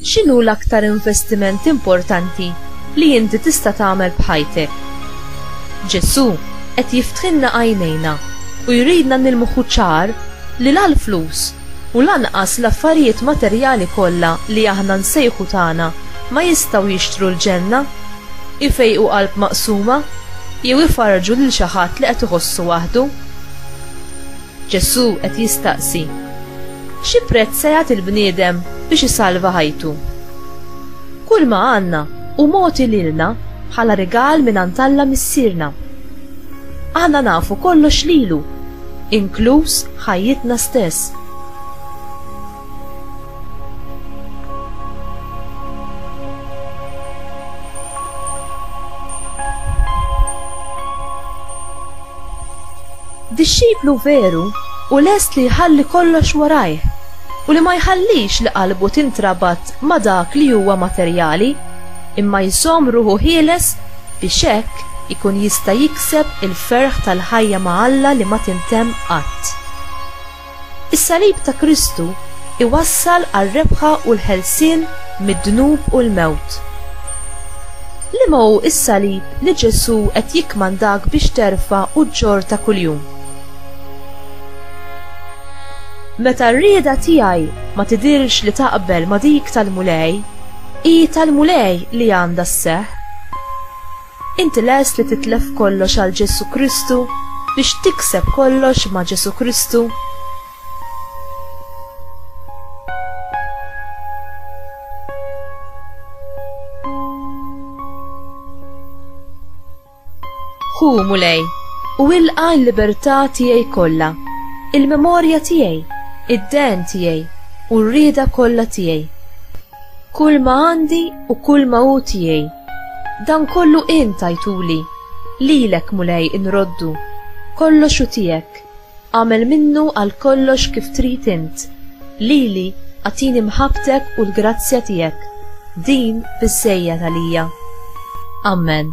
X'inhu l-aktar investiment importanti li inti tista' tagħmel b'ħajtek? Ġesù qed jiftħilna għajnejna u jridna nilmħu ċar li la l-flus u lanqas l-affarijiet materjali kollha li aħna nsejħu tagħna ma jistgħu jixtru l-ġenna, ifejqu qalb maqsuma, jew ifarrġu lil xi ħadd li qed iħossu waħdu. Ġesù qed jistaqsi, Xi prezz se jagħti l-bniedem biex isalva ħajtu? Kulma għandna hu mogħti lilna bħala rigal mingħand Alla Missierna. Aħna nafu kollox lilu, inkluż ħajjitna stess. Dixxiplu veru u lest li jħalli kollox warajh u li ma jħallix li qalbu tintrabat ma' dak li huwa materjali, imma jżomm ruħu ħieles biex hekk ikun jista' jikseb il-ferħ tal-ħajja ma' Alla li ma tintemm qatt. Is-salib ta' Kristu iwassal għar-rebħa u l-ħelsien mid-dnub u l-mewt. Liema hu s-salib li Ġesù qed jikkmandak biex terfa' u ġġorr ta' kuljum? Meta r-rieda tiegħi ma tidhirx li taqbel ma' dik tal-Mulej, hi tal-Mulej li għandha sseħħ. Inti lest li titlef kollox għal Ġesù Kristu, biex tikseb kollox ma' Ġesù Kristu? Hu Mulej, u ilqa l-libertà tiegħi kollha, il-memorja tiegħi, id-den tiegħi u r-rieda kollha tiegħi. Kull ma għandi u kull ma hu tiegħi, dan kollu int tajtuli, lilek Mulej inroddu, kollox hu tiegħek, agħmel minnu għal kollox kif trid int, lili agħtini mħabbtek u l-grazzja tiegħek, din biżżejjed għalija. Ammen.